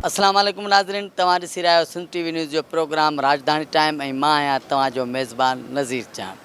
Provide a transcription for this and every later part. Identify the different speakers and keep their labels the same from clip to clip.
Speaker 1: السلام عليڪم ناظرين توهان ڏسي رهيا آهيو سنڌ ٽي وي نيوز جو پروگرام راڄڌاڻي ٽائيم ۽ مان آهيان توهان جو ميزبان نظير چان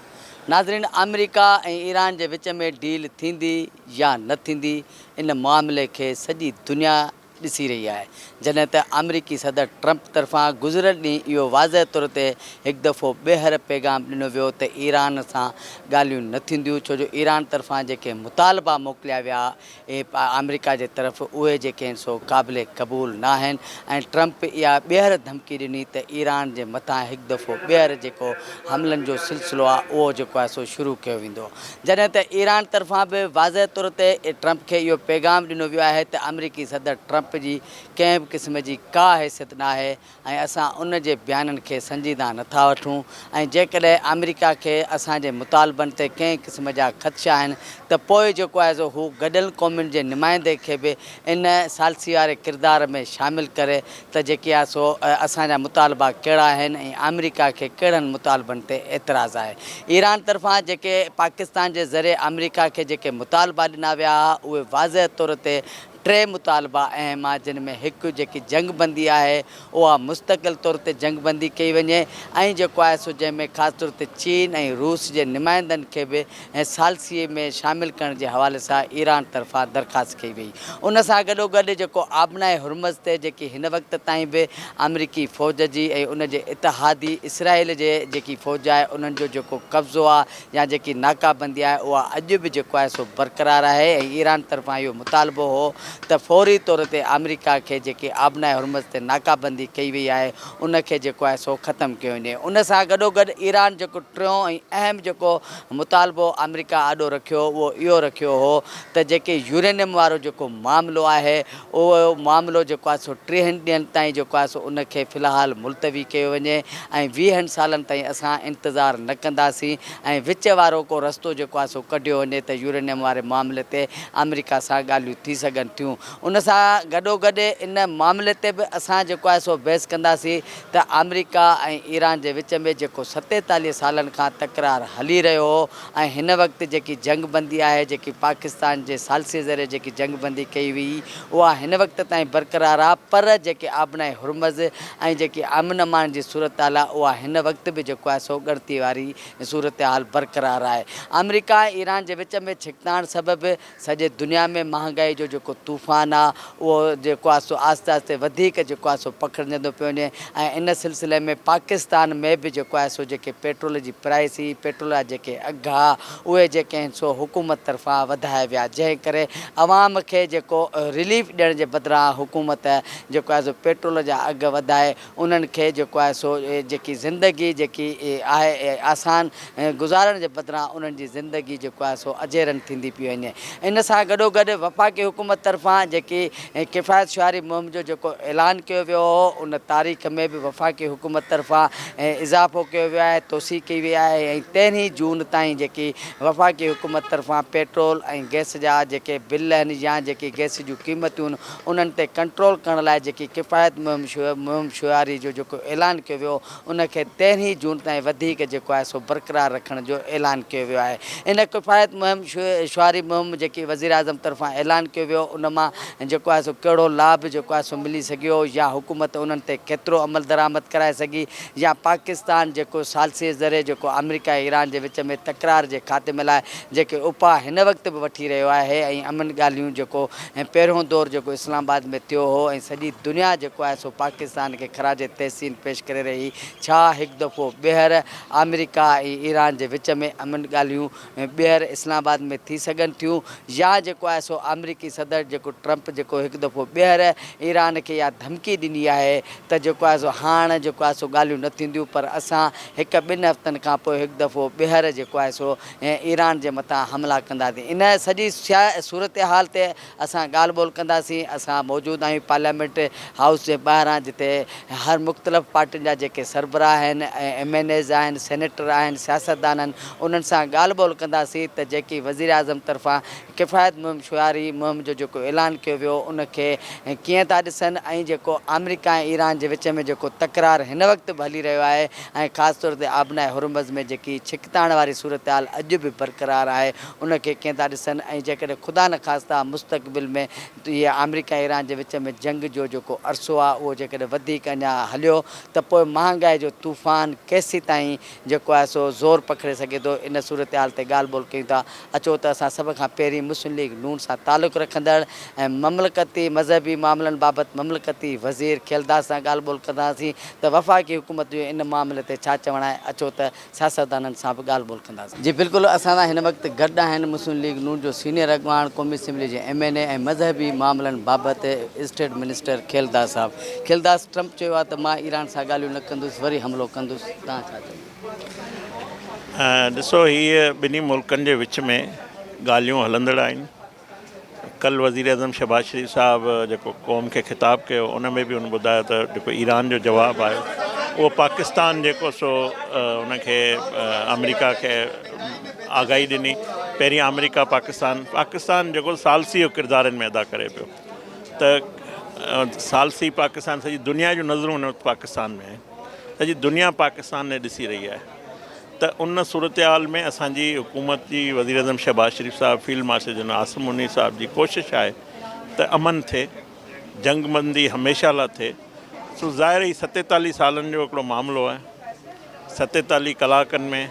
Speaker 1: ناظرين آمريڪا ۽ ايران جي وچ ۾ ڊيل ٿيندي يا نه ٿيندي ان معاملي کي سڄي دنيا ڏسي رهي آهي، جڏهن ته آمريڪي صدر ٽرمپ طرفان گذريل ڏينهن اهو واضح طور تي هڪ دفعو ٻيهر پيغام ڏنو ويو ته ايران سان ڳالهيون نه ٿينديون ڇو جو ايران طرفان جيڪي مطالبا موڪليا ويا اهي آمريڪا جي طرف اهي جيڪي آهن سو قابل قبول ناهن ۽ ٽرمپ اها ٻيهر ڌمڪي ڏني ته ايران جي مٿان هڪ دفعو ٻيهر جيڪو حملن جو سلسلو آهي اهو جيڪو آهي سو شروع ڪيو ويندو جڏهن ته ايران طرفان به واضح طور تي ٽرمپ کي اهو پيغام ڏنو ويو آهي ته آمريڪي صدر ٽرمپ جي ڪنهن به قسم جي ڪا حيثيت ناهي ۽ اسان ان جي بيانن کي سنجيده نٿا وٺون ۽ جيڪڏهن آمريڪا کي اسان جي مطالبن تي ڪنهن قسم جا خدشا آهن ته پوء جيڪو آهي سو هو گڏيل قومن جي نمائندي کي به ان ثالثي واري ڪردار ۾ شامل ڪري ته جيڪي آهي سو اسان جا مطالبا ڪهڙا آهن ۽ آمريڪا کي ڪهڙن مطالبن تي اعتراض آهي. ايران طرفان جيڪي پاڪستان جي ذريعي آمريڪا کي جيڪي مطالبا ڏنا ويا ها اهي واضح طور تي ٽي مطالبا اهم آهن جن ۾ هڪ جيڪي جنگ بندي آهي اها مستقل طور تي جنگ بندي ڪئي وڃي ۽ جيڪو آهي سو جنهن ۾ خاص طور تي چين ۽ روس جي نمائندن کي به ۽ ثالثيء ۾ شامل ڪرڻ جي حوالي سان ايران طرفان درخواست ڪئي وئي. ان سان گڏوگڏ جيڪو آبنائي هرمز تي جيڪي هن وقت تائين به آمريڪي فوج جي ۽ ان جي اتحادي اسرائيل جي جيڪي فوج آهي انهن جو جيڪو قبضو آهي يا جيڪي ناڪابندي آهي اها اڄ به جيڪو آهي سو برقرار آهي ۽ ايران طرفان اهو مطالبو هو ته فوري طور تي آمريڪا کي جيڪي آبنائي هرمز تي ناڪابندي ڪئي وئي آهي ان کي جيڪو آهي سو ختم ڪيو وڃي. ان سان گڏوگڏ ايران جيڪو ٽيون ۽ اهم جيڪو مطالبو آمريڪا آڏو رکيو اهو اهو رکيو هو ته جيڪي يورينيم وارو جيڪو معاملو آهي اهو معاملو جيڪو آهي سو ٽيهن ڏينهن تائين جيڪو آهي سو ان کي في الحال ملتوي ڪيو وڃي ۽ ويهن سالن تائين اسان انتظار نه ڪنداسين ۽ وچ وارو ڪو رستو جيڪو آهي سو ڪڍيو وڃي ته يورينيم واري معاملي تي آمريڪا سان ڳالهيون ٿي سگهن ٿيون ان سان گڏوگڏ ان معاملي تي به اسان جيڪو آهي سو بحث ڪنداسين ته آمريڪا ۽ ايران جي وچ ۾ جيڪو ستيتاليهه سالن کان تڪرار هلي رهيو هو ۽ هن وقت جيڪي جنگ بندي آهي جيڪي پاڪستان جي ثالثي ذريعي جيڪي جنگ بندي ڪئي وئي اها هن وقت تائين برقرار آهي پر جيڪي آبنائي هرمز ۽ جيڪي امن امان جي صورتحال آهي اها هن وقت به جيڪو آهي سو ڳڻتي واري صورتحال برقرار آهي آمريڪا ۽ ايران جي وچ ۾ ڇڪتاڻ سبب سڄي دنيا ۾ مهانگائي جو جيڪو طوفان آ اهو جيڪو آ سو آهستي آهستي وڌيڪ جيڪو آ سو پکڙجندو پيو وڃي ۽ ان سلسلي ۾ پاڪستان ۾ به جيڪو آهي سو جيڪي پيٽرول جي پرائسي پيٽرول جا جيڪي اگهه آ اهي جيڪي آهن سو حڪومت طرفان وڌايا ويا جنهن ڪري عوام کي جيڪو رليف ڏيڻ جي بدران حڪومت جيڪو آهي سو پيٽرول جا اگهه وڌائي انهن کي جيڪو آهي سو جيڪي زندگي جيڪي آهي آسان گذارڻ جي بدران انهن جي زندگي جيڪو آهي سو اجيرن ٿيندي پئي وڃي ان سان گڏو گڏ وفاقي حڪومت طرفان جيڪي ڪفايت شعاري مهم جو جيڪو اعلان ڪيو ويو هو ان تاريخ ۾ به وفاقي حڪومت طرفان اضافو ڪيو ويو آهي توسيع ڪئي وئي آهي ۽ تيرهين جون تائين جيڪي وفاقي حڪومت طرفان پيٽرول ۽ گئس جا جيڪي بل آهن يا جيڪي گئس جون قيمتون انهن تي ڪنٽرول ڪرڻ لاء جيڪي ڪفايت مهم مهم شعاري جو جيڪو اعلان ڪيو ويو ان کي تيرهين جون تائين وڌيڪ جيڪو آهي سو برقرار رکڻ جو اعلان ڪيو ويو آهي ان ڪفايت مهم شعاري مهم جيڪي وزيراعظم طرفان اعلان ڪيو ويو ان مان جيڪو آهي سو ڪهڙو لاڀ جيڪو آهي سو ملي سگهيو يا حڪومت انهن تي ڪيترو عملدرآمد ڪرائي سگهي يا پاڪستان جيڪو ثالثي ذريعي جيڪو آمريڪا ۽ ايران جي وچ ۾ تڪرار جي خاتمي لاء جيڪي اپاء هن وقت به وٺي رهيو آهي ۽ امن ڳالهيون جيڪو ۽ پهريون دور جيڪو اسلام آباد ۾ ٿيو هو ۽ سڄي دنيا جيڪو آهي سو پاڪستان کي خراج تحسين پيش ڪري رهي ڇا هڪ دفعو ٻيهر آمريڪا ۽ ايران جي وچ ۾ امن ڳالهيون ٻيهر اسلام آباد ۾ ٿي سگهن ٿيون يا جيڪو آهي سو آمريڪي صدر جيڪو ٽرمپ جيڪو هڪ دفعو ٻيهر ايران کي اها ڌمڪي ڏني آهي ته جيڪو آهي سو هاڻ جيڪو آهي سو ڳالهيون نه ٿينديون پر اسان هڪ ٻن هفتن کان پوء هڪ دفعو ٻيهر جيڪو آهي سو ۽ ايران جي مٿان حملا ڪنداسين ان سڄي صورتحال تي اسان ڳالهه ٻولهه ڪنداسين اسان موجود آهيون پارليامينٽ هائوس جي ٻاهران جتي هر مختلف پارٽين جا جيڪي سربراهه آهن ايم اين ايز آهن سينيٽر آهن سياستدان آهن انهن سان ڳالهه ٻولهه ڪنداسين ته جيڪي وزيراعظم طرفان ڪفايت مهم شعاري مهم جو جيڪو اعلان ڪيو ويو ان کي ڪيئن ٿا ڏسن ۽ جيڪو آمريڪا ۽ ايران جي وچ ۾ جيڪو تڪرار هن وقت به هلي رهيو آهي ۽ خاص طور تي آبناء هرمز ۾ جيڪي ڇڪتاڻ واري صورتحال اڄ به برقرار آهي ان کي ڪيئن ٿا ڏسن ۽ جيڪڏهن خدا نخواسته مستقبل ۾ هي آمريڪا ۽ ايران جي وچ ۾ جنگ جو جيڪو عرصو آهي اهو جيڪڏهن وڌيڪ اڃا هليو ته پوء مهانگائي جو طوفان ڪيسيتائين جيڪو آهي سو زور پکڙي سگهي ٿو، ان صورتحال تي ڳالهه ٻولهه ڪيون ٿا، اچو ته اسان سڀ کان پهرين مسلم ليگ نون سان تعلق رکندڙ ۽ مملڪتي مذهبي معاملن بابت مملڪتي وزير کيلداس سان ڳالهه ٻولهه ڪنداسين ته وفاقي حڪومت جو ان معاملي تي ڇا چوڻ آهي، اچو ته سياستدانن سان به ڳالهه ٻولهه ڪنداسين. جي بلڪل اسان سان هن وقت گڏ آهن مسلم ليگ نون جو سينيئر اڳواڻ، قومي اسيمبلي جي ايم اين اي ۽ مذهبي معاملن بابت اسٽيٽ منسٽر کيلداس صاحب. کيلداس! ٽرمپ چيو آهي ته مان ايران سان ڳالهيون نه ڪندس وري حملو ڪندس، توهان ڇا چوندا؟
Speaker 2: ڏسو هي ٻنهي ملڪن جي وچ ۾ ڳالهيون هلندڙ آهن، ڪلهه وزيراعظم شهباز شريف صاحب جيڪو قوم کي خطاب ڪيو ان ۾ به هن ٻڌايو ته جيڪو ايران جو جواب آيو اهو پاڪستان جيڪو سو ان کي آمريڪا کي آگاهي ڏني، پهرين آمريڪا پاڪستان، پاڪستان جيڪو ثالثي جو ڪردار ان ۾ ادا ڪري پيو. ته ثالثي پاڪستان سڄي دنيا جون نظرون هن وقت پاڪستان ۾ آهن سڄي دنيا پاڪستان ني ڏسي رهي آهي ته ان صورتحال ۾ اسان جي حڪومت جي وزيراعظم شهباز شريف صاحب field marshal general Asim Munir صاحب جي ڪوشش آهي ته امن ٿئي جنگ بندي هميشه لا ٿئي سو ظاهر هي ستيتاليهه سالن جو هڪڙو معاملو آهي ستيتاليهه ڪلاڪن ۾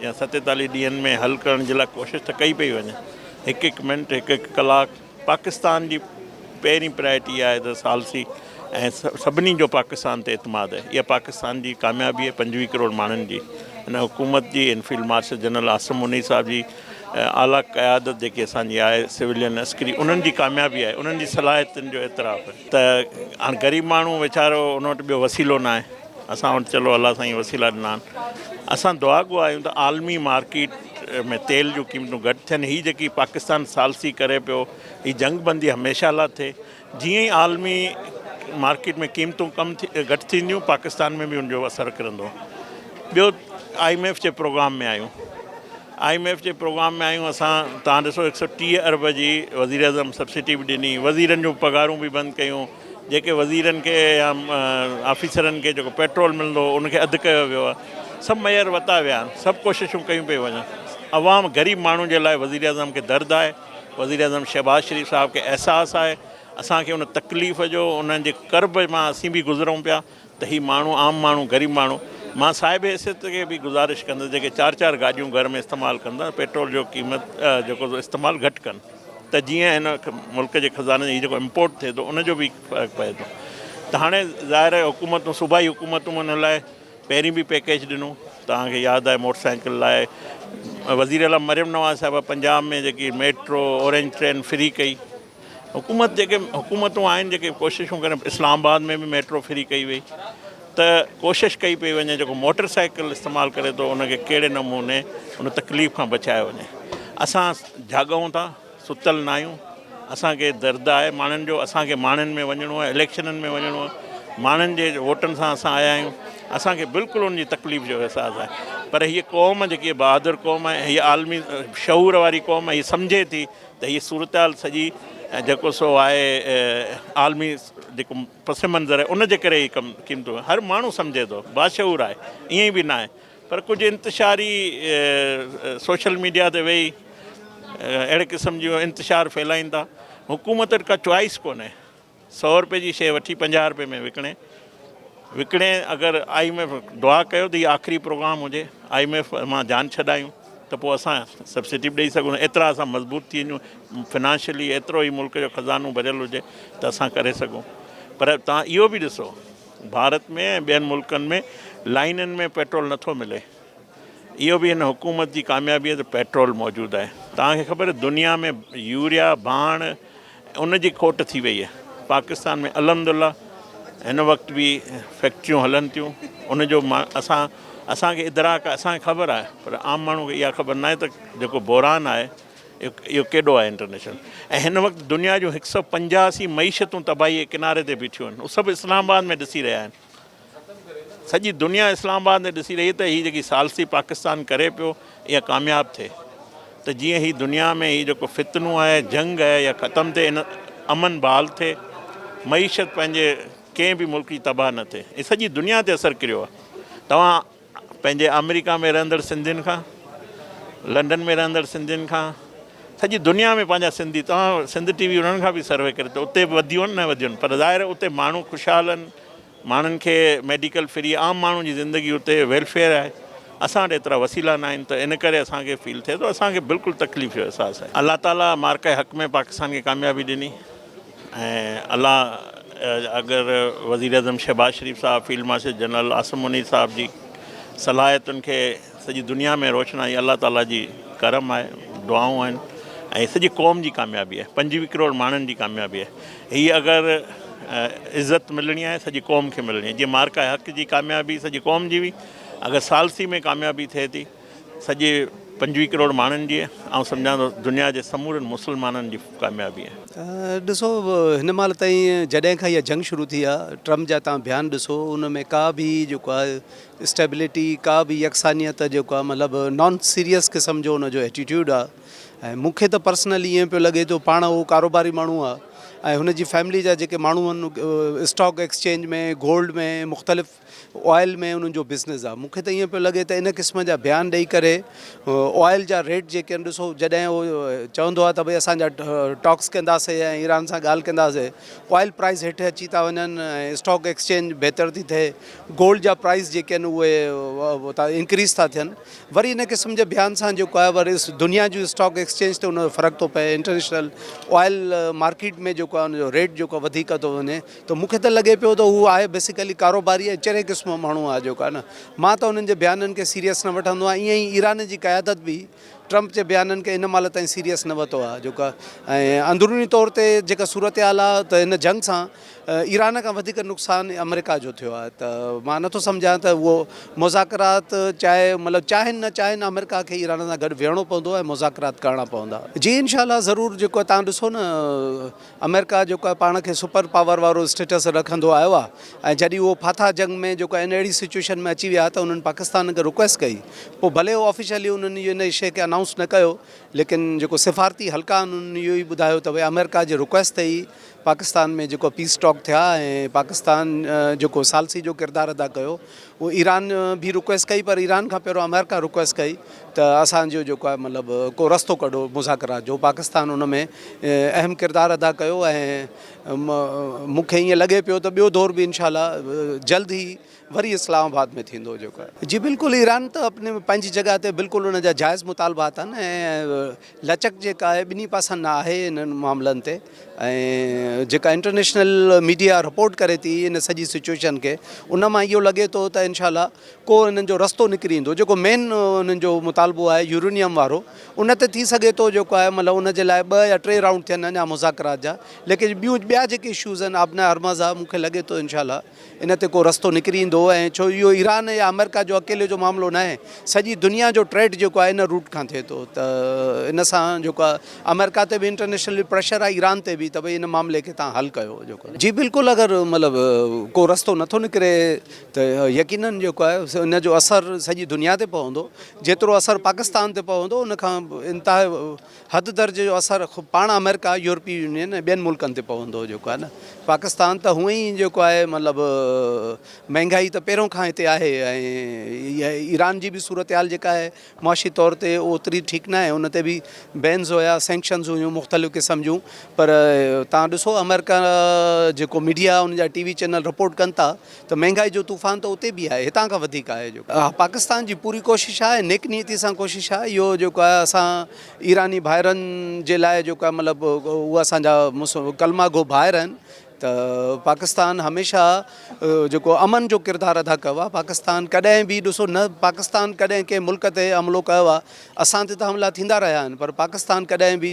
Speaker 2: يا ستيتاليهه ڏينهن ۾ حل ڪرڻ جي لاء ڪوشش ته ڪئي پئي وڃي هڪ هڪ منٽ هڪ هڪ ڪلاڪ پاڪستان جي پهرين پرائرٽي آهي ته ثالثي ۽ سڀني جو پاڪستان تي اعتماد آهي اها پاڪستان جي ڪاميابي آهي پنجويهه ڪروڙ ماڻهن جي ان حڪومت جي ان field marshal general Asim Munir صاحب جي اعليٰ قيادت جيڪي اسان جي آهي سولين عسڪري انهن جي ڪاميابي آهي انهن جي صلاحيتن جو اعتراف آهي ته هاڻ غريب ماڻهو ويچارو ان وٽ ٻيو وسيلو ناهي اسان وٽ چلو الله سائين وسيلا ڏنا آهن اسان دعا گو آهيون ته عالمي مارڪيٽ ۾ تيل جون قيمتون گهٽ ٿين هي جيڪي پاڪستان ثالثي ڪري پيو هي جنگ بندي هميشه لا ٿئي جيئن ئي عالمي مارڪيٽ ۾ قيمتون ڪم ٿي گهٽ ٿينديون پاڪستان ۾ به ان جو اثر ڪرندو ٻيو آئي ايم ايف جي پروگرام ۾ آهيون آء ايم ايف جي پروگرام ۾ آهيون اسان، توهان ڏسو هڪ سئو ٽيهه ارب جي وزيراعظم سبسڊي به ڏني، وزيرن جون پگهارون به بند ڪيون، جيڪي وزيرن کي يا آفيسرن کي جيڪو پيٽرول ملندو هو ان کي اڌ ڪيو ويو آهي، سڀ ميئر وتا ويا آهن، سڀ ڪوششون ڪيون پيون وڃن، عوام غريب ماڻهو جي لاء وزيراعظم کي درد آهي، وزيراعظم شهباز شريف صاحب کي احساس آهي، اسان کي ان تڪليف جو انهن جي ڪرب مان اسين به گذرون پيا. ته هي ماڻهو عام ماڻهو غريب ماڻهو مان صاحب حيثيت کي به گذارش ڪندس جيڪي چار چار گاڏيون گهر ۾ استعمال ڪن ٿا پيٽرول جو قيمت جيڪو استعمال گهٽ ڪن ته جيئن هن ملڪ جي خزاني هي جيڪو امپورٽ ٿئي ٿو ان جو به فرق پئي ٿو ته هاڻي ظاهر آهي حڪومتون صوبائي حڪومتون ان لاء پهرين به پيڪيج ڏنو توهان کي ياد آهي موٽر سائيڪل لاء وزير اعليٰ مريم نواز صاحب پنجاب ۾ جيڪي ميٽرو اورينج ٽرين فري ڪئي حڪومت جيڪي حڪومتون آهن جيڪي ڪوششون ڪرن اسلام آباد ۾ به ميٽرو فري ڪئي وئي ته ڪوشش ڪئي پئي وڃي جيڪو موٽر سائيڪل استعمال ڪري ٿو ان کي ڪهڙي نموني ان تڪليف کان بچايو وڃي اسان جاڳون ٿا ستل نه آهيون اسانکي درد آهي ماڻهن جو اسانکي ماڻهن ۾ وڃڻو آهي اليڪشنن ۾ وڃڻو آهي ماڻهن جي ووٽن سان اسان آيا آهيون اسانکي بلڪل ان جي تڪليف جو احساس آهي پر هيء قوم جيڪي بهادر قوم آهي هيء عالمي شعور واري قوم آهي هيء سمجهي ٿي ته هي صورتحال سڄي جيڪو سو آهي عالمي جيڪو پس منظر آهي ان جي ڪري هي ڪم قيمتون آهن هر ماڻهو سمجهي ٿو باشعور آهي ائين به ناهي پر ڪجهه انتشاري سوشل ميڊيا تي ويهي اهڙي قسم جون انتشار ڦهلائين ٿا حڪومت وٽ ڪا چوائس ڪونهي سؤ رپئي جي شيء وٺي پنجاهه رپئي ۾ وڪڻي وڪڻي اگر آء ايم ايف دعا ڪيو ته هي آخري پروگرام هجي آء ايم ايف مان جان ڇڏايون ته پوء اسان سبسڊي به ڏئي سگهون ايترا اسان مضبوط ٿي وڃون فنانشلي ايترو هي ملڪ جو خزانو ڀريل هجي ته اسان ڪري سگهون پر توهان اهو به ڏسو ڀارت ۾ ۽ ٻين ملڪن ۾ لائنن ۾ پيٽرول نٿو ملي اهو به هن حڪومت جي ڪاميابي آهي ته پيٽرول موجود آهي توهان کي خبر دنيا ۾ يوريا ڀاڻ ان جي کوٽ ٿي وئي آهي پاڪستان ۾ الحمد الله هن وقت به فيڪٽريون هلن ٿيون ان جو اسان اسان کي ادراڪ اسان کي خبر آهي پر عام ماڻهو کي اها خبر ناهي ته جيڪو بحران آهي اهو ڪيڏو آهي انٽرنيشنل ۽ هن وقت دنيا جون هڪ سؤ پنجاسي معيشتون تباهي ڪناري تي بيٺيون آهن سڀ اسلام آباد ۾ ڏسي رهيا آهن سڄي دنيا اسلام آباد ڏي ڏسي رهي ته هي جيڪي ثالثي پاڪستان ڪري پيو اها ڪامياب ٿئي ته جيئن هي دنيا ۾ هي جيڪو فتنو آهي جنگ آهي اها ختم ٿئي امن بحال ٿئي معيشت پنهنجي ڪنهن به ملڪ جي تباهه نه ٿئي هي سڄي دنيا تي اثر ڪريو آهي توهان پنهنجي آمريڪا ۾ رهندڙ سنڌين کان لنڊن ۾ رهندڙ سنڌين کان سڄي دنيا ۾ پنهنجا سنڌي توهان سنڌ ٽي وي انهن کان به سروي ڪري ته اتي به وڌيون نه وڌيون پر ظاهر اتي ماڻهو خوشحال آهن ماڻهن کي ميڊيڪل فري عام ماڻهو جي زندگي اتي ويلفيئر آهي اسان وٽ ايترا وسيلا نه آهن ته ان ڪري اسان کي فيل ٿئي ٿو اسان کي بلڪل تڪليف جو احساس آهي الله تعالي مارڪه حق ۾ پاڪستان کي ڪاميابي ڏني. ۽ الله اگر وزيراعظم شهباز شريف صاحب، field marshal general Asim Munir صاحب جي صلاحيتن کي سڄي دنيا ۾ روشنائي الله تعاليٰ جي ڪرم آهي، دعائون آهن ۽ سڄي قوم جي ڪاميابي آهي، پنجويهه ڪروڙ ماڻهن جي ڪاميابي آهي، هي اگر عزت ملڻي آهي سڄي قوم کي ملڻي آهي، جيئن معرڪه حق جي ڪاميابي سڄي قوم جي هئي، اگر ثالثي ۾ ڪاميابي ٿئي ٿي. سڄي پنجويهه ڪروڙ ماڻهن جي آئون سمجهان ٿو دنيا جي سمورن مسلمانن جي ڪاميابي آهي. ڏسو هن
Speaker 3: مهل تائين جڏهن کان اها جنگ شروع ٿي آهي ٽرمپ جا توهان بيان ڏسو ان ۾ ڪا به جيڪو آهي اسٽيبلٽي ڪا به يڪسانيت جيڪو آهي مطلب نان سيريس قسم جو ان جو ايٽيٽيوڊ آهي ۽ مون کي ته پرسنلي ائين پيو لڳي ٿو پاڻ هو ڪاروباري ماڻهو آهي ۽ هن جي فيملي جا جيڪي ماڻهو آهن اسٽاڪ ايڪسچينج ۾ گولڊ ۾ مختلف آئل ۾ انهن جو بزنس آ مونکي ته ائين پيو لڳي ته ان قسم جا بيان ڏئي ڪري آئل جا ريٽ جيڪي آهن ڏسو جڏهن هو چوندو آ ته ڀئي اسان جا ٽاڪس ڪنداسي ۽ ايران سان ڳالهه ڪنداسي آئل پرائز هيٺ اچي ٿا وڃن ۽ اسٽاڪ ايڪسچينج بهتر ٿي ٿئي گولڊ جا پرائز جيڪي آهن اهي انڪريز ٿا ٿين وري ان قسم جي بيان سان جيڪو آهي وري دنيا جون اسٽاڪ ايڪسچينج تي ان جو فرق ٿو پئي انٽرنيشنل آئل مارڪيٽ ۾ جيڪو آهي ان جو ريٽ جيڪو وڌيڪ ٿو وڃي ته مون کي ته لڳي پيو ته هو آهي بيسيڪلي ڪاروباري ۽ چري قسم جو ماڻهو آهي جيڪو آهي نه مان ته انهن جي بيانن کي سيريس نه وٺندو آهيان ائين ئي ايران جي قيادت به ٽرمپ جي بيانن کي ان مهل تائين سيريس نه وتو آهي جيڪو آهي ۽ اندروني طور تي جيڪا صورتحال آهي ته هن جنگ سان ايران کان وڌيڪ نقصان آمريڪا جو ٿيو آهي ته مان نٿو سمجهان ته اهو مذاڪرات چاهي مطلب چاهين نه چاهين آمريڪا کي ايران سان گڏ ويهڻو پوندو ۽ مذاڪرات ڪرڻا پوندا جي انشاء الله ضرور جيڪو آهي تهان ڏسو نه آمريڪا جيڪو آهي پاڻ کي سپر پاور وارو اسٽيٽس رکندو آيو آهي ۽ جڏهن اهو ڦاٿا جنگ ۾ جيڪو آهي ان اهڙي سچويشن ۾ اچي ويا ته انهن پاڪستان کي رڪويسٽ ڪئي پوء ڀلي اهو آفيشلي انهن اهو ان شيء کي انائونس نه ڪيو ليڪن جيڪو سفارتي حلقا آهن انهن اهو ئي ٻڌايو ته ڀئي آمريڪا جي رڪويسٽ تي ئي پاڪستان ۾ جيڪو پيس ٽاڪ ٿيا ۽ پاڪستان جيڪو ثالثي جو ڪردار ادا ڪيو ايران به رڪويسٽ ڪئي پر ايران کان پهريون آمريڪا رڪويسٽ ڪئي ته اسان جو جيڪو آهي مطلب ڪو رستو ڪڍو مذاڪرات جو پاڪستان ان ۾ اهم ڪردار ادا ڪيو ۽ مون کي ائين لڳي پيو ته ٻيو دور به انشاء الله جلد ئي وري اسلام آباد ۾ ٿيندو جيڪو جي بلڪل ايران ته اپني پنهنجي جڳهه تي بلڪل ان جا جائز مطالبا اٿن ۽ لچڪ جيڪا آهي ٻنهي پاسن نه آهي انهن معاملن تي ۽ جيڪا انٽرنيشنل ميڊيا رپورٽ ڪري ٿي ان سڄي سچويشن کي ان مان اهو لڳي ٿو ته انشاء الله ڪو انهن جو رستو نڪري ايندو جيڪو مين انهن جو مطالبو آهي يورينيم وارو ان تي ٿي سگهي ٿو جيڪو آهي مطلب ان جي لاء ٻه يا ٽي رائونڊ ٿين اڃا مذاڪرات جا ليڪن ٻيون ٻيا جيڪي اشوز آهن آبناء هرمز آهي مون کي لڳي ٿو انشاء الله ان تي ڪو رستو نڪري ايندو ۽ ڇو اهو ايران يا آمريڪا جو اڪيلي جو معاملو ناهي سڄي دنيا جو ٽريڊ جيڪو آهي ان روٽ کان ٿئي ٿو ته ان سان جيڪو آهي آمريڪا تي به انٽرنيشنل پريشر آهي ايران تي به ته ڀئي ان معاملي کي تان حل ڪيو جيڪو جي بلڪل اگر مطلب ڪو رستو نٿو نڪري ته يقينن جيڪو آهي ان جو اثر سڄي دنيا تي پوندو جيترو اثر پاڪستان تي پوندو ان کان انتها حد درجي جو اثر خود پاڻ آمريڪا، يورپي يونين ۽ ٻين ملڪن تي پوندو جيڪو آهي نه پاڪستان ته هونئن ئي جيڪو آهي مطلب مهنگائي ته پهريون کان هتي آهي ۽ ايران جي به صورتحال جيڪا آهي معاشي طور تي اوتري ٺيڪ ناهي ان تي به بينز هيا سينڪشنز هيون مختلف قسم جون پر تان ڏسو آمريڪا جيڪو ميڊيا ان جا ٽي وي چينل رپورٽ ڪن ٿا ته مهنگائي جو طوفان ته اتي به آهي هتان کان وڌيڪ آهي جو اها پاڪستان جي پوري ڪوشش آهي نيڪ نيتي سان ڪوشش آهي اهو جيڪو آهي اسان ايراني ڀائرن جي لاء جيڪو آهي مطلب اهو اسان جا ڪلما گو ڀائر آهن ته پاڪستان هميشه جيڪو امن جو ڪردار ادا ڪيو آهي پاڪستان ڪڏهن به ڏسو نه پاڪستان ڪڏهن ڪنهن ملڪ تي حملو ڪيو آهي اسان تي ته حملا ٿيندا رهيا آهن پر پاڪستان ڪڏهن به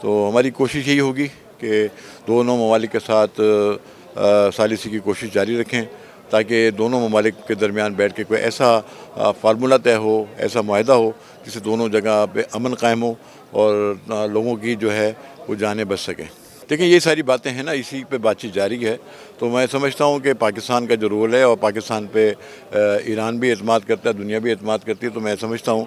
Speaker 4: تو هماري ڪوشش يهي هوگي ڪي دونو ممالڪ ڪي ساٿ ثاليثي ڪي ڪوشش جاري رکين تاڪي دونو ممالڪ ڪي درميان بيٺ ڪي ڪوئي ايسا فارمولا طئه هو ايسا معاهده هو جسي دونو جگه پي امن قائم هو اور لوگو ڪي جو هي وو جاني بچ سڪي ديکين يهي ساري باتين هي نا اسي پي بات چيت جاري هي تو مين سمجهتا هون ڪي پاڪستان ڪا جو رول هي اور پاڪستان پي ايران بي اعتماد ڪرتا هي دنيا بي اعتماد ڪرتي هي تو مين سمجهتا هون.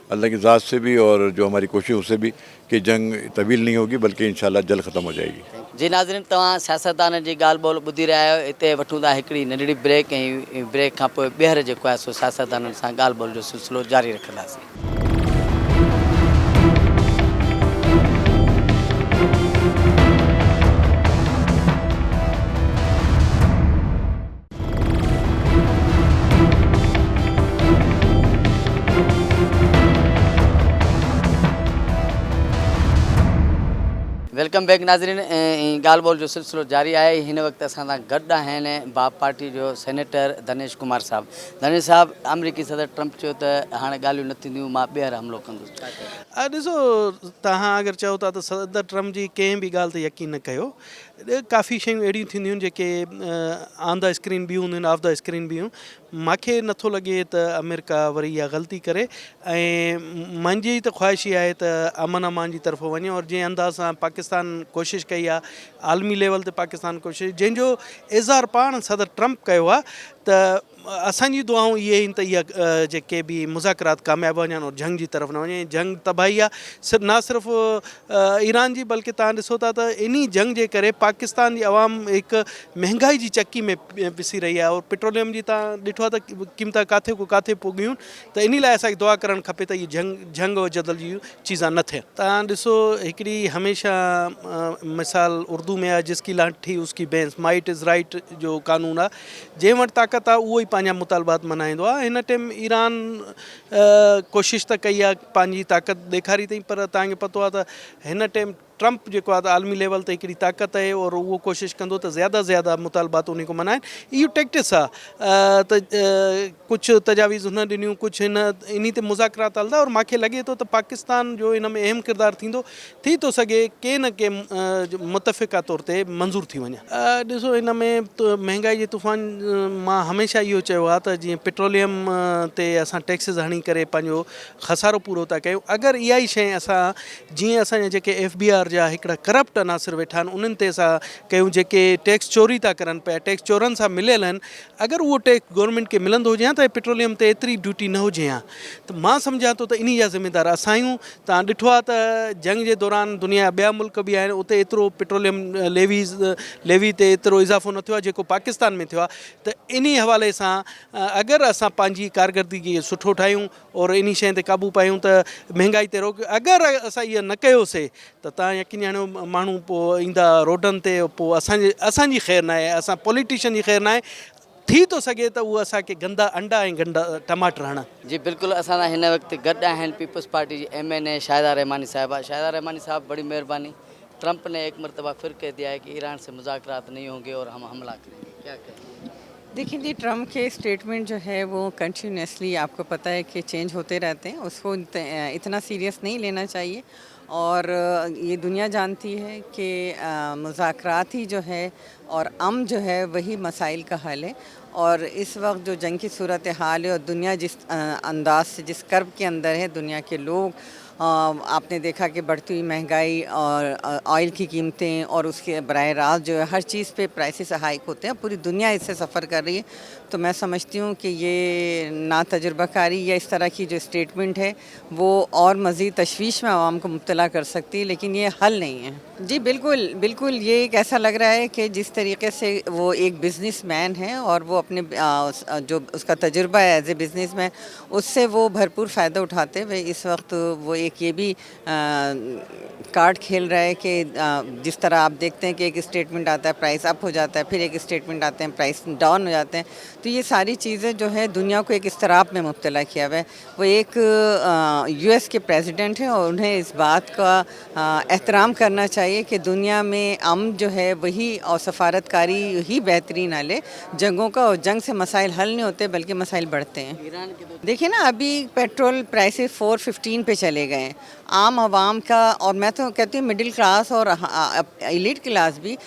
Speaker 4: الله ڪي ذات سي بي اور جو ھماري ڪوشش ھو سي بي ڪي جنگ طويل نھين ھوگي بلڪه انشاء الله جلد ختم ھو جائي گي. جي ناظرين توهان
Speaker 1: سياستدانن جي ڳالھ ٻولھ ٻڌي رهيا آهيو اتي وٺون ٿا هڪڙي ننڍڙي بريڪ ۽ بريڪ کان پوء ٻيهر جيڪو آهي سو سياستدانن سان ڳالھ ٻولھ جو سلسلو جاري رکنداسين. ويلڪم بيڪ ناظرين ۽ ڳالھ ٻولھ جو سلسلو جاري آهي هن وقت اسان سان گڏ آهن باب پارٽي جو سينيٽر دنيش ڪمار صاحب دنيش صاحب آمريڪي صدر ٽرمپ چيو ته هاڻي ڳالهيون نه ٿينديون مان ٻيهر حملو ڪندس ڇا چئو ڏسو
Speaker 3: توهان اگر چئو ٿا ته صدر ٽرمپ جي ڪنهن به ڳالھ تي يقين نه ڪيو ڪافي شيون اهڙيون ٿينديون آهن جيڪي آن دا اسڪرين به هونديون آهن آف دا اسڪرين به هون ماکي نٿو لڳي ته امريڪا وري اها غلطي ڪري ۽ منهنجي ته خواهش اها آهي ته امن امان جي طرف وڃي اور جنهن انداز سان پاڪستان ڪوشش ڪئي آهي عالمي ليول تي پاڪستان ڪوشش جنهن جو اظهار پاڻ صدر ٽرمپ ڪيو آهي ته اسان جون دعائون اهي آهن ته اها جيڪي به مذاڪرات ڪامياب وڃن اور جنگ جي طرف نه وڃي ۽ جنگ تباهي آ صرف نه صرف ايران جي بلڪه توهان ڏسو ٿا ته انهي جنگ جي ڪري پاڪستان جي عوام هڪ مهنگائي جي چڪي ۾ پسي رهي آهي اور پيٽروليم جي توهان ڏٺو آهي ته قيمتا ڪاٿي کان ڪاٿي پڳيون ته انهي لاء اسان کي دعا ڪرڻ کپي ته اهي جنگ جنگ اور جدل جي چيزان نه ٿين. توهان ڏسو هڪڙي هميشه مثال اردو ۾ آهي جس ڪي لانٺ ٺي اس ڪي بينس مائٽ از رائٽ جو قانون آهي جنهن وٽ طاقت آهي اهو ئي پنهنجا مطالبات مڃائيندو آهي هن ٽيم ايران ڪوشش ته ڪئي آهي پنهنجي طاقت ڏيکاري اٿئي پر توهان کي پتو آهي ته هن ٽيم ٽرمپ جيڪو آهي عالمي ليول تي هڪڙي طاقت آهي اور اهو ڪوشش ڪندو ته زياده زياده مطالبات ان کان مڃائين اهو ٽيڪٽس آهي ته ڪجهه تجاويز هن ڏنيون، ڪجهه هن، انهي تي مذاڪرات هلندا اور مان کي لڳي ٿو ته پاڪستان جو ان ۾ اهم ڪردار ٿيندو، ٿي ٿو سگهي ڪي نه ڪي متفقه طور تي منظور ٿي وڃي. ڏسو ان ۾ مهنگائي جي طوفان مان هميشه اهو چيو آهي ته جيئن پيٽروليم تي اسان ٽيڪسز هڻي ڪري پنهنجو خسارو پورو ٿا ڪيون اگر اها ئي شيء اسان جيئن اسان جا جيڪي ايف بي آر جا هڪڙا ڪرپٽ عناصر ويٺا آهن انهن تي اسان ڪيون جيڪي ٽيڪس چوري ٿا ڪرن پيا ٽيڪس چورن سان مليل آهن اگر اهو ٽيڪس گورنمينٽ کي ملندو هجي هان ته اڄ پيٽروليم تي ايتري ڊيوٽي نه هجي هان ته مان سمجهان ٿو ته انهي جا ذميدار اسان آهيون توهان ڏٺو آهي ته جنگ جي دوران دنيا جا ٻيا ملڪ به آهن اتي ايترو پيٽروليم ليويز ليوي تي ايترو اضافو نه ٿيو آهي جيڪو پاڪستان ۾ ٿيو آهي ته انهي حوالي سان اگر اسان پنهنجي ڪارڪردگي کي سٺو ٺاهيون اور انهي شين تي قابو پايون ته مهنگائي تي روڪ اگر اسان اهي نه ڪيوسي ته تان يقين آڻيو ماڻهو پوء ايندا روڊن تي پوء اسان جي اسان جي خير ناهي اسان پوليٽيشن جي خير ناهي ٿي ٿو سگهي ته اهي اسان کي گندا انڊا ۽ گنڊا ٽماٽر هڻن. جي بلڪل اسان سان
Speaker 1: هن وقت گڏ آهن پيپلز پارٽي جي M N A Shahida Rehmani صاحبه شاهده رحماني صاحب بڙي مهرباني ٽرمپ ني ايڪ مرتبه ڦر ڪهه ديا هي ڪي ايران سي مذاڪرات نهي هونگي اور هم حملا ڪرين گي ڪيا ڪهين گي. ديکين جي ٽرمپ
Speaker 5: کي اسٽيٽمينٽ جو هي وو ڪنٽينيوسلي آپ ڪو پتا هي ڪي چينج هوتي رهتي هين اس ڪو اتنا سيريس نهي لينا چاهيي اور يھ دنيا جانتي ھي ڪي مذاڪرات ھي جو ھي اور امن جو ھي وھي مسائل ڪا حل ھي اور اس وقت جو جنگ ڪي صورت حال ھي اور دنيا جس انداز سي جس ڪرب ڪي اندر ھي دنيا ڪي لوگ آپ ني ديکا ڪي بڙھتي ھوئي مھنگائي اور آئل ڪي قيمتين اور اس ڪي براھ راست جو ھي ھر چيز پي پرائسز ھائيڪ ھوتي ھي پوري دنيا اس سي سفر ڪر رھي ھي تو مي سمجھتي ھون ڪي يھ ناتجربه ڪاري يا اس طرح ڪي جو اسٽيٽمنٽ ھي وو اور مزيد تشويش مين عوام کو مبتلا ڪر سڪتي ليڪن يي حل نهي هي. جي بلڪل بلڪل يي ايڪ ايسا لگ رها هي ڪي جس طريقي سي وو ايڪ بزنس مين هي اور وو اپني جو اسڪا تجربه هي ايز اي بزنس مين اس سي وو ڀرپور فائده اٺاتي هوئي اس وقت وو ايڪ يي بي ڪارڊ کيل رها هي ڪي جس طرح آپ ديکتي هي ڪي ايڪ اسٽيٽمنٽ آتا هي پرائس اپ هوجاتا هي پھر ايڪ اسٽيٽمنٽ آتي هي پرائس ڊاون هوجاتي هي تو يي ساري چيزين جو هي دنيا کو ايڪ اضطراب مين مبتلا ڪيا هوئي. وو ايڪ يو ايس ڪي پريزيڊنٽ هي اور انهين اس بات ڪا احترام ڪرنا چاهيي ڪي دنيا مين امن جو هي وهي اور سفارت ڪاري هي بهترين حل هي جنگون ڪا اور جنگ سي مسائل حل نهين هوتي بلڪه مسائل بڙهتي هين ايران ڪي تو ديکي نا ابهي پيٽرول پرائسز فور ففٽين پي چلي گئي عام عوام ڪا اور مين تو ڪهتي هون مڊل ڪلاس اور ايليٽ ڪلاس بهي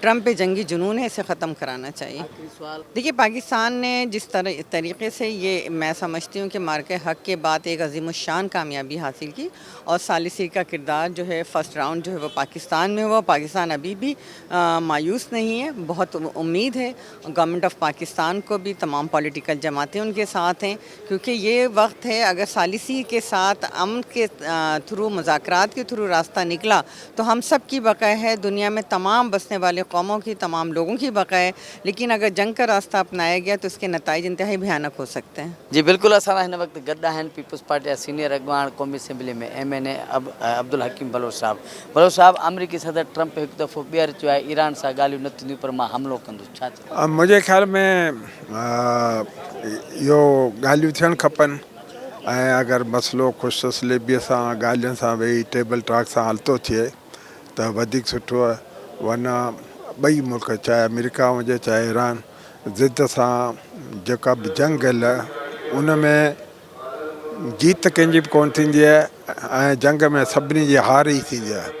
Speaker 5: ٽرمپ ڪي جنگي جنون هي اسي ختم ڪرانا چاهيي ديکيي پاڪستان ني جس طريقي سي يي مي سمجهتي هون ڪي معرڪه حق ڪي بعد ايڪ عظيم الشان ڪاميابي حاصل ڪي اور ثالثي ڪا ڪردار جو هي فرسٽ رائونڊ جو هي وو پاڪستان مي هوا پاڪستان ابهي بهي مايوس نهي هي بهت اميد هي گورنمنٽ آف پاڪستان ڪو بهي تمام پوليٽيڪل جماعتي ان ڪي ساٿ هين. ڪيونڪه يي وقت هي اگر ثالثي ڪي ساٿ امن ڪي ٿرو مذاڪرات ڪي ٿرو راسته نڪلا تو هم سب ڪي بقا هي دنيا مين تمام بسني والي قومون ڪي تمام لوگون ڪي بقا هي ليڪن اگر جنگ ڪا راسته اپنايا گيا تو اسڪي نتائج انتهائي ڀيانڪ هو سڪتي هي. جي بلڪل اسان سان هن وقت
Speaker 1: گڏ آهن پيپلز پارٽي جا سينئر اڳواڻ قومي اسيمبلي ۾ M N A Abdul Hakeem Baloch صاحب بلوچ صاحب آمريڪي صدر ٽرمپ هڪ دفعو ٻيهر چيو آهي ايران سان ڳالهيون نه ٿينديون پر مان حملو ڪندس ڇا منهنجي خيال ۾
Speaker 6: اهو ڳالهيون ٿيڻ کپن ۽ اگر مسئلو خوش اسليبيء سان ڳالهين سان ويهي ٽيبل ٽاڪ سان حل ٿو ٿئي ته وڌيڪ سٺو ورنه ٻئي ملڪ چاهي آمريڪا هجي چاهي ايران ضد سان جيڪا به جنگ هل ان ۾ جيت ڪنهن جي به ڪونه ٿيندي آهي ۽ جنگ ۾ سڀني جي هار ئي ٿيندي آهي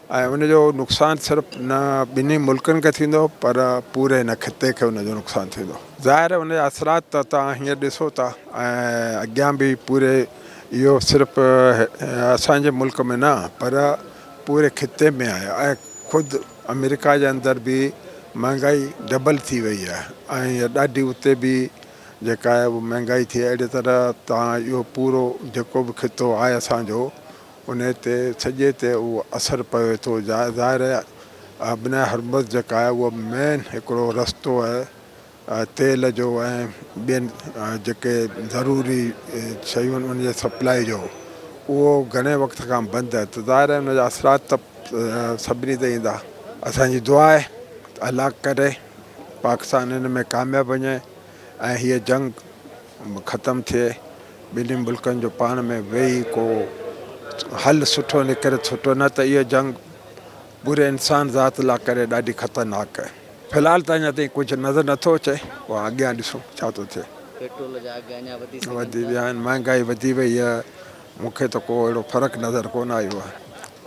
Speaker 6: ۽ ان جو نقصان صرف نه ٻنهي ملڪن کي ٿيندو پر پوري هن خطي کي ان جو نقصان ٿيندو. ظاهر آهي ان جا اثرات ته توهان هينئر ڏسو ٿا ۽ اڳيان به پوري اهو صرف اسان جي ملڪ ۾ نه پر پوري خطي ۾ آهي ۽ خود آمريڪا جي اندر به مهانگائي ڊبل ٿي وئي آهي ۽ ڏاڍي اتي به جيڪا آهي مهانگائي ٿي اهڙي طرح توهان اهو پورو جيڪو به خطو آهي اسان جو انهيء تي سڄي تي اهو اثر پوي ٿو. ظاهر آهي ابناء هرمز جيڪا آهي اهو مين هڪڙو رستو آهي تيل جو ۽ ٻين جيڪي ضروري شيون آهن ان جي سپلائي جو اهو گهڻي وقت کان بند آهي ته ظاهر آهي ان جا اثرات ته سڀني تي ايندا. اسان جي دعا آهي ته الله ڪري پاڪستان ان ۾ ڪامياب وڃي ۽ هيء جنگ ختم ٿئي ٻنهي ملڪن جو پاڻ ۾ ويهي ڪو حل سٺو نڪري سٺو نه ته اهو جنگ پوري انسان ذات لا ڪري ڏاڍي خطرناڪ آهي في الحال ته اڃا تائين ڪجهه نظر نٿو اچي پوء اڳيان ڏسون ڇا ٿو ٿئي پيٽرول
Speaker 1: جا اگهه اڃا وڌي سگهن ٿا. مهانگائي
Speaker 6: وڌي وئي آهي. مون کي ته ڪو اهڙو فرق نظر ڪونه آيو آهي.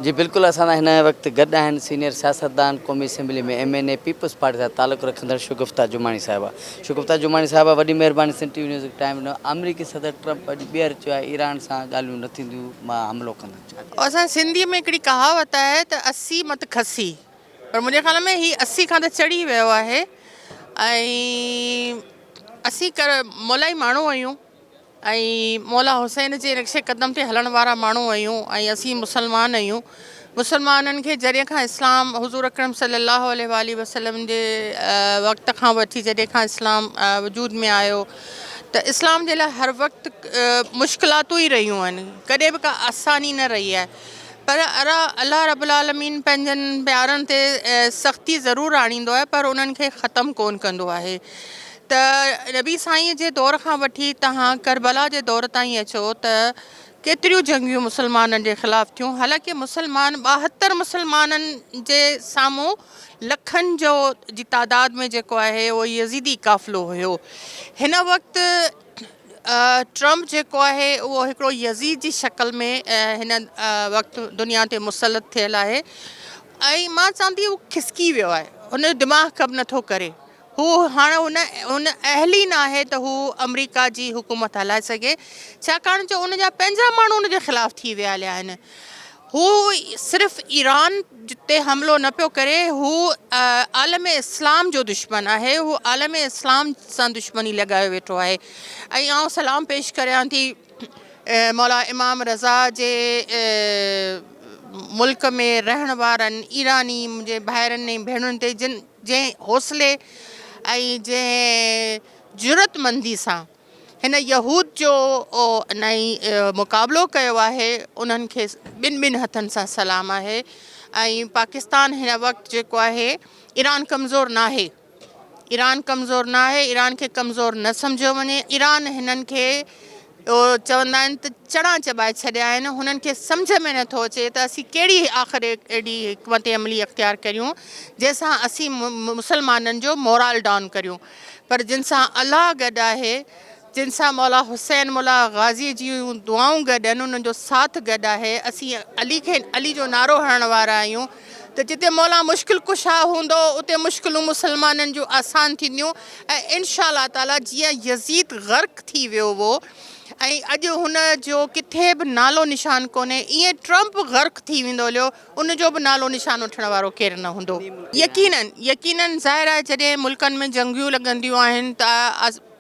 Speaker 6: جي بلڪل اسان
Speaker 1: سان هن وقت گڏ آهن سينئر سياستدان قومي اسيمبلي ۾ M N A Peoples Party سان تعلق رکندڙ شگفته جماڻي صاحبه شگفته جماڻي صاحبه وڏي مهرباني سنڌ ٽي وي نيوز کي ٽائيم ڏنو آمريڪي صدر ٽرمپ اڄ ٻيهر چيو آهي ايران سان ڳالهيون نه ٿينديون مان حملو ڪندس ڇا ٿيو. اسان جي سنڌي ۾
Speaker 7: هڪڙي ڪهاوت آهي ته اسي مت کسي پر منهنجي خيال ۾ هي اسي کان ته چڙهي ويو آهي ۽ اسي مولائي ماڻهو آهيون ۽ مولا حسين جي نقش قدم تي هلڻ وارا ماڻهو آهيون ۽ اسين مسلمان آهيون مسلمانن کي جڏهن کان اسلام حضور اڪرم صلي الله عليه واٰله وسلم جي وقت کان وٺي جڏهن کان اسلام وجود ۾ آيو ته اسلام جي لاء هر وقت مشڪلاتون ئي رهيون آهن ڪڏهن به ڪا آساني نه رهي آهي پر الله رب العالمين پنهنجن پيارن تي سختي ضرور آڻيندو آهي پر انهن کي ختم ڪونه ڪندو آهي ته نبي سائينء جي دور کان وٺي تهان ڪربلا جي دور تائين اچو ته ڪيتريون جنگيون مسلمانن جي خلاف ٿيون حالانڪه مسلمان ٻاهتر مسلمانن جي سامهون لکن جو جي تعداد ۾ جيڪو آهي اهو يزيدي قافلو هيو هن وقت ٽرمپ جيڪو آهي اهو هڪڙو يزيد جي شڪل ۾ هن وقت دنيا تي مسلط ٿيل آهي ۽ مان چوان ٿي اهو کسڪي ويو آهي هن جو دماغ ڪم نٿو ڪري هو هاڻ ان اهل ئي ناهي ته هو آمريڪا جي حڪومت هلائي سگهي ڇاڪاڻ جو ان جا پنهنجا ماڻهو ان جي خلاف ٿي ويا هليا آهن. هو صرف ايران تي حملو نه پيو ڪري هو عالم اسلام جو دشمن آهي هو عالم اسلام سان دشمني لڳايو ويٺو آهي ۽ آئون سلام پيش ڪريان ٿي مولا امام رضا جي ملڪ ۾ رهڻ وارن ايراني منهنجي ڀائرن ۽ ڀيڻن تي جن جنهن حوصلي ۽ جنهن جرئتمندي سان هن يهود جو ۽ مقابلو ڪيو آهي انهن کي ٻن ٻن هٿن سان سلام آهي ۽ پاڪستان هن وقت جيڪو آهي ايران ڪمزور ناهي ايران ڪمزور ناهي ايران کي ڪمزور نه سمجهيو وڃي ايران هنن کي اهو چوندا آهن ته چڻا چٻائي ڇڏيا آهن، هنن کي سمجهه ۾ نٿو اچي ته اسين ڪهڙي آخر اهڙي حڪمت عملي اختيار ڪريون جنهن سان اسين مسلمانن جو مورال ڊائون ڪريون پر جن سان الله گڏ آهي جن سان مولا حسين مولا غازي جيون دعائون گڏ آهن انهن جو ساٿ گڏ آهي اسين علي کي علي جو نعرو هڻڻ وارا آهيون ته جتي مولا مشڪل ڪشا هوندو اتي مشڪلون مسلمانن جون آسان ٿينديون ۽ انشاء الله تعاليٰ جيئن يزيد غرق ٿي ويو هو ۽ اڄ هن جو ڪٿي به نالو نشان ڪونهي ايئن ٽرمپ غرق ٿي ويندو هليو ان جو به نالو نشان وٺڻ وارو ڪير نه هوندو. يقينن يقينن ظاهر آهي جڏهن ملڪن ۾ جنگيون لڳنديون آهن ته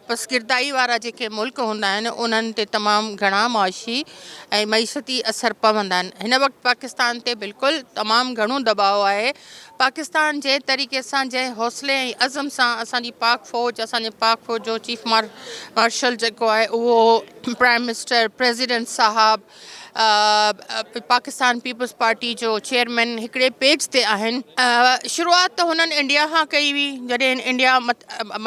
Speaker 7: پسگردائي وارا جيڪي ملڪ هوندا آهن انهن تي تمام گهڻا معاشي ۽ معيشتي اثر پوندا آهن هن وقت پاڪستان تي بلڪل تمام گهڻو دٻاء آهي پاڪستان جنهن طريقي سان جنهن حوصلي ۽ عزم سان اسان جي پاڪ فوج اسان جي پاڪ فوج جو چيف مارشل جيڪو آهي اهو پرائيم منسٽر پريزيڊنٽ صاحب پاڪستان پيپلز پارٽي جو چيئرمين هڪڙي پيج تي آهن. شروعات ته هنن انڊيا کان ڪئي هئي جڏهن انڊيا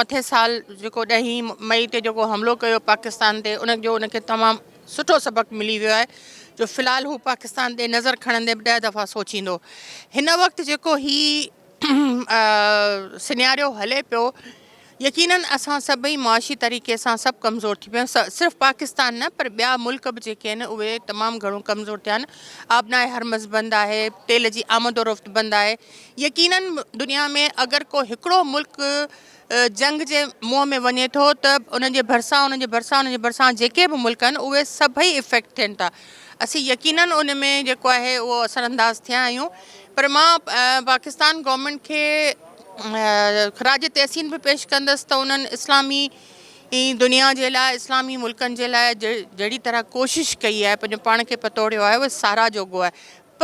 Speaker 7: مٿين سال جيڪو ڏهين مئي تي جيڪو حملو ڪيو پاڪستان تي ان جو ان کي تمام سٺو سبق ملي ويو آهي جو في الحال هو پاڪستان تي نظر کڻندي به ڏهه دفعا سوچيندو هن وقت جيڪو هي سنياريو هلي پيو يقينن اسان سڀئي معاشي طريقي سان سڀ ڪمزور ٿي پيا آهيون صرف پاڪستان نه پر ٻيا ملڪ به جيڪي آهن اهي تمام گهڻو ڪمزور ٿيا آهن آبناء هرمز بند آهي تيل جي آمد و رفت بند آهي يقينن دنيا ۾ اگر ڪو هڪڙو ملڪ جنگ جي منهن ۾ وڃي ٿو ته ان جي ڀرسان ان جي ڀرسان ان جي ڀرسان جيڪي به ملڪ آهن اهي سڀئي افيڪٽ ٿين ٿا اسين يقينن ان ۾ جيڪو آهي اهو اثر انداز ٿيا آهيون پر مان پاڪستان گورنمنٽ کي خراج تحسين به پيش ڪندس ته انهن اسلامي دنيا جي لاء اسلامي ملڪن جي لاء جهڙي طرح ڪوشش ڪئي آهي پنهنجو پاڻ کي پتوڙيو آهي اهو ساراهه جوڳو آهي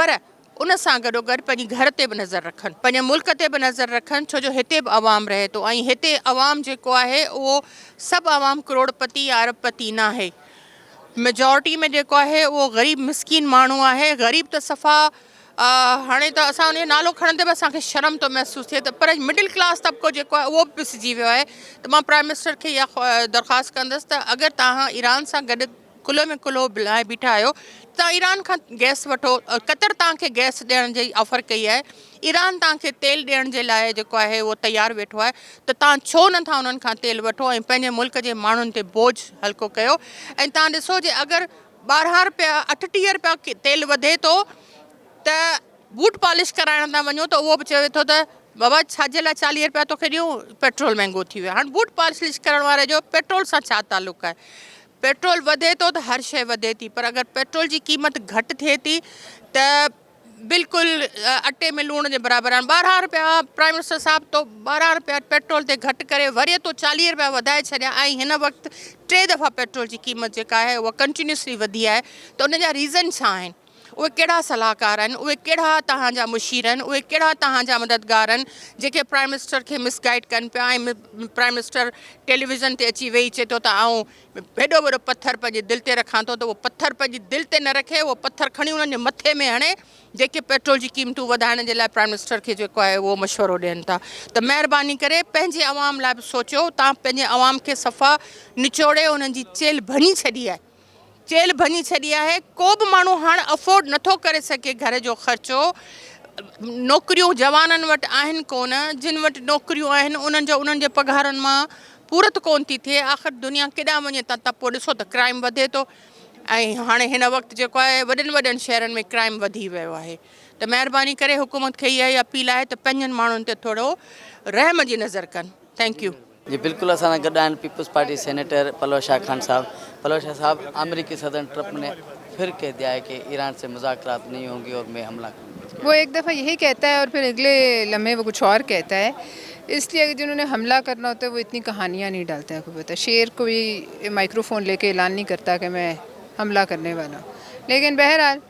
Speaker 7: پر ان سان گڏوگڏ پنهنجي گهر تي به نظر رکن، پنهنجي ملڪ تي به نظر رکن ڇو جو هتي به عوام رهي ٿو ۽ هتي عوام جيڪو آهي اهو سڀ عوام ڪروڙپتي يا ارب پتي ناهي ميجارٽي ۾ جيڪو آهي اهو غريب مسڪين ماڻهو آهي غريب ته صفا هاڻي ته اسان ان جو نالو کڻندي به اسان کي شرم ٿو محسوس ٿئي ته پر مڊل ڪلاس طبقو جيڪو آهي اهو به پسجي ويو آهي ته مان پرائيم منسٽر کي اها درخواست ڪندس ته اگر توهان ايران سان گڏ ڪلهو ۾ ڪلهو لاهي بيٺا آهيو توهان ايران کان گئس وٺو قطر توهان کي گئس ڏيڻ جي آفر ڪئي آهي ايران توهان کي تيل ڏيڻ جي لاء جيڪو آهي اهو تيار ويٺو آهي ته توهان ڇو نه ٿا انهن کان تيل وٺو ۽ پنهنجي ملڪ جي ماڻهن تي بوجھ هلڪو ڪيو ۽ توهان ڏسو جي اگر ٻارهن رپيا اٺٽيهه رپيا تيل وڌي ٿو ته بوٽ پالش ڪرائڻ ٿا وڃو ته اهو به چوي ٿو ته بابا ڇا جي لاء چاليهه رپيا توکي ڏيون پيٽرول مهنگو ٿي ويو هاڻ بوٽ پالش ڪرڻ واري جو پيٽرول سان ڇا تعلق آهي پيٽرول وڌي ٿو ته هر شيء وڌي ٿي پر اگر پيٽرول جي قيمت گهٽ ٿئي ٿي ته بلڪل اٽي ۾ لوڻ جي برابر آهن ٻارهن رپيا پرائيم منسٽر صاحب تو ٻارهن رپيا پيٽرول تي گهٽ ڪري وري تو چاليهه رپيا وڌائي ڇڏيا ۽ هن وقت ٽي دفعا پيٽرول جي قيمت جيڪا آهي اها ڪنٽينيوسلي وڌي آهي ته ان جا ريزن ڇا آهن. اهي ڪهڙا صلاحڪار آهن، اهي ڪهڙا توهان جا مشير آهن، اهي ڪهڙا توهان جا مددگار آهن جيڪي پرائيم منسٽر کي مس گائيڊ ڪن پيا ۽ پرائيم منسٽر ٽيليويزن تي اچي ويهي چئي ٿو ته آئون هيڏو وڏو پٿر پنهنجي دل تي رکان ٿو ته اهو پٿر پنهنجي دل تي نه رکي اهو پٿر کڻي انهن جي مٿي ۾ هڻي جيڪي پيٽرول جي قيمتون وڌائڻ جي لاء پرائيم منسٽر کي جيڪو آهي اهو مشورو ڏين ٿا ته مهرباني ڪري پنهنجي عوام لاء به سوچيو توهان پنهنجي عوام کي صفا نچوڙي انهن جي چيلهه ڀڃي ڇڏي آهي چيلهه ڀڃي ڇڏي آهي، ڪو به ماڻهو هاڻ افورڊ نٿو ڪري سگهي گهر جو خرچو، نوڪريون جوانن وٽ آهن ڪونه، جن وٽ نوڪريون آهن انهن جو انهن جي پگهارن مان پورت ڪونه ٿي ٿئي، آخر دنيا ڪيڏانهن وڃي ته پوء ڏسو ته ڪرائيم وڌي ٿو ۽ هاڻي هن وقت جيڪو آهي وڏن وڏن شهرن ۾ ڪرائيم وڌي ويو آهي ته مهرباني ڪري حڪومت کي اها ئي اپيل آهي ته پنهنجن ماڻهن تي ٿورو رحم جي نظر ڪن ٿينڪ يو. جي بلڪل اسان سان
Speaker 1: گڏ آهن peoples party senator پلوء Shah Khan sahib Palo Shah صاحب آمريڪي صدر ٽرمپ ني ڦر ڪهه ديا هي ڪي ايران سي مذاڪرات نهي هونگي اور مي حمله ڪرونگا اس ڪي وہ ايڪ دفعه يهي ڪهتا
Speaker 8: هي اور ڦر اگلي لمحي وہ ڪچھ اور ڪهتا هي اس ليه اگر جنهون ني حمله ڪرنا هوتا هي وہ اتني ڪهانيا نهي ڊالتا هي ڪوئي شير ڪوئي مائڪرو فون ليڪي اعلان نهي ڪرتا ڪي مي حمله ڪرني والا هون ليڪن بهرحال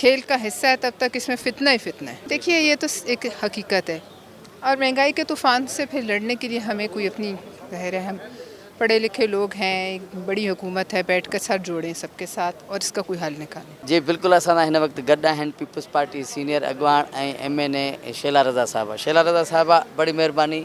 Speaker 8: کيل ڪا حصه هي تب تڪ اس مين فتنه هي فتنه هي ديکيي يه تو ايک حقيقت هي اور مهنگائي ڪي طوفان سي پهر لڙني ڪي ليه همي ڪوئي اپني وهه رحم پڙهي لکي لوگ هين ايک بڙي حڪومت هي بيٺ ڪر سر جوڙين سب ڪي ساٿ اور اس ڪا ڪوئي حل نڪالين. جي بلڪل اسان سان هن
Speaker 1: وقت گڏ آهن پيپلز پارٽي سينئر اڳواڻ ۽ M N A Shehla Raza صاحبه شيلا رضا صاحبه بڙي مهرباني.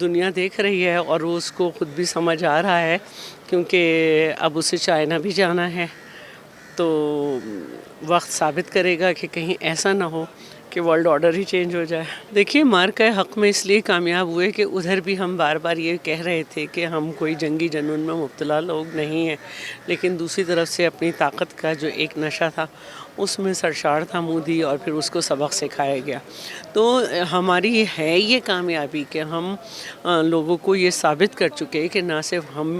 Speaker 9: دنيا ديک رهي هي اور وو اس ڪو خود بي سمجھ آ رها هي ڪيونڪه اب اسي چائنا بي جانا هي تو وقت ثابت ڪري گا ڪه ڪهين ايسا نه هو ڪه ورلڊ آرڊر هي چينج هو جائي ديکيي مارڪه حق مي اس ليي ڪامياب هوئي ڪه ادهر بي هم بار بار يي ڪهه رهي ٿي ڪه هم ڪوئي جنگي جنون مي مبتلا لوگ نهين هي ليڪن دوسري طرف سي اپني طاقت ڪا جو ايڪ نشه ٿا اس مين سرشار تھا مودي اور پھر اس کو سبق سکھايا گيا تو ھماري ھي يي ڪاميابي ڪي ھم لوگو ڪو يي ثابت ڪر چڪي ڪي نا صرف ھم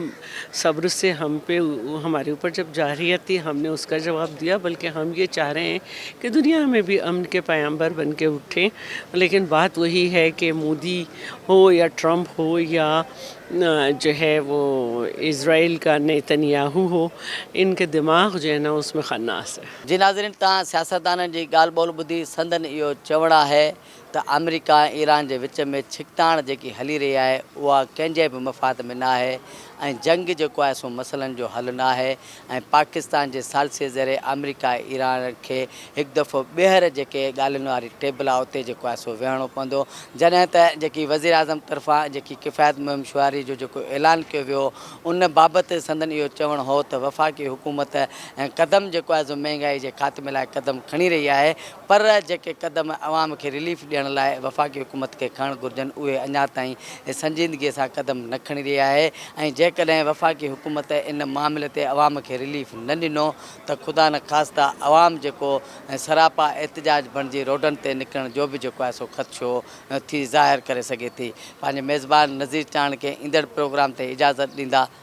Speaker 9: صبر سي ھم پي ھماري اوپر جب جارھيت تي ھم ني اس ڪا جواب ديا بلڪه ھم يي چاھ رھي ھين ڪي دنيا مين بي امن ڪي پيامبر بن ڪي اٺين ليڪن بات وھي ھي ڪي مودي ھو يا ٽرمپ ھو يا جو هي وو اسرائيل ڪا نيتنياهو هو ان ڪي دماغ جو هي نا اس مين خناس هي.
Speaker 1: جي ناظرين
Speaker 9: توهان
Speaker 1: سياستدانن جي ڳالهه
Speaker 9: ٻولهه
Speaker 1: ٻڌي سندن اهو چوڻ آهي ته آمريڪا ۽ ايران جي وچ ۾ ڇڪتاڻ جيڪي هلي رهي آهي اها ڪنهن جي به مفاد ۾ ناهي ۽ جنگ جيڪو آهي سو مسئلن جو حل ناهي ۽ پاڪستان جي ثالثي ذريعي آمريڪا ۽ ايران کي هڪ دفعو ٻيهر جيڪي ڳالهين واري ٽيبل آهي اتي جيڪو آهي سو ويهڻو پوندو جڏهن ته جيڪي وزيراعظم طرفان جيڪي ڪفايت مهم شعاري جو جيڪو اعلان ڪيو ويو هو ان بابت سندن اهو چوڻ هو ته وفاقي حڪومت ۽ قدم جيڪو آهي سو مهنگائي جي خاتمي لاء قدم کڻي رهي آهي پر جيڪي قدم عوام کي رليف ڏيڻ لاء وفاقي حڪومت کي کڻڻ گهرجن اهي اڃا تائين سنجيدگي سان قدم نه کڻي رهي آهي ۽ جيڪڏهن وفاقي حڪومت ان معاملي تي عوام کي رليف نه ڏنو ته خدا نخواسته عوام جيڪو سراپا احتجاج بڻجي روڊن تي نڪرڻ جو به جيڪو آهي سو خدشو ٿي ظاهر ڪري سگهي ٿي پنهنجي ميزبان نذير چاڻڪي ايندڙ پروگرام تي اجازت ڏيندا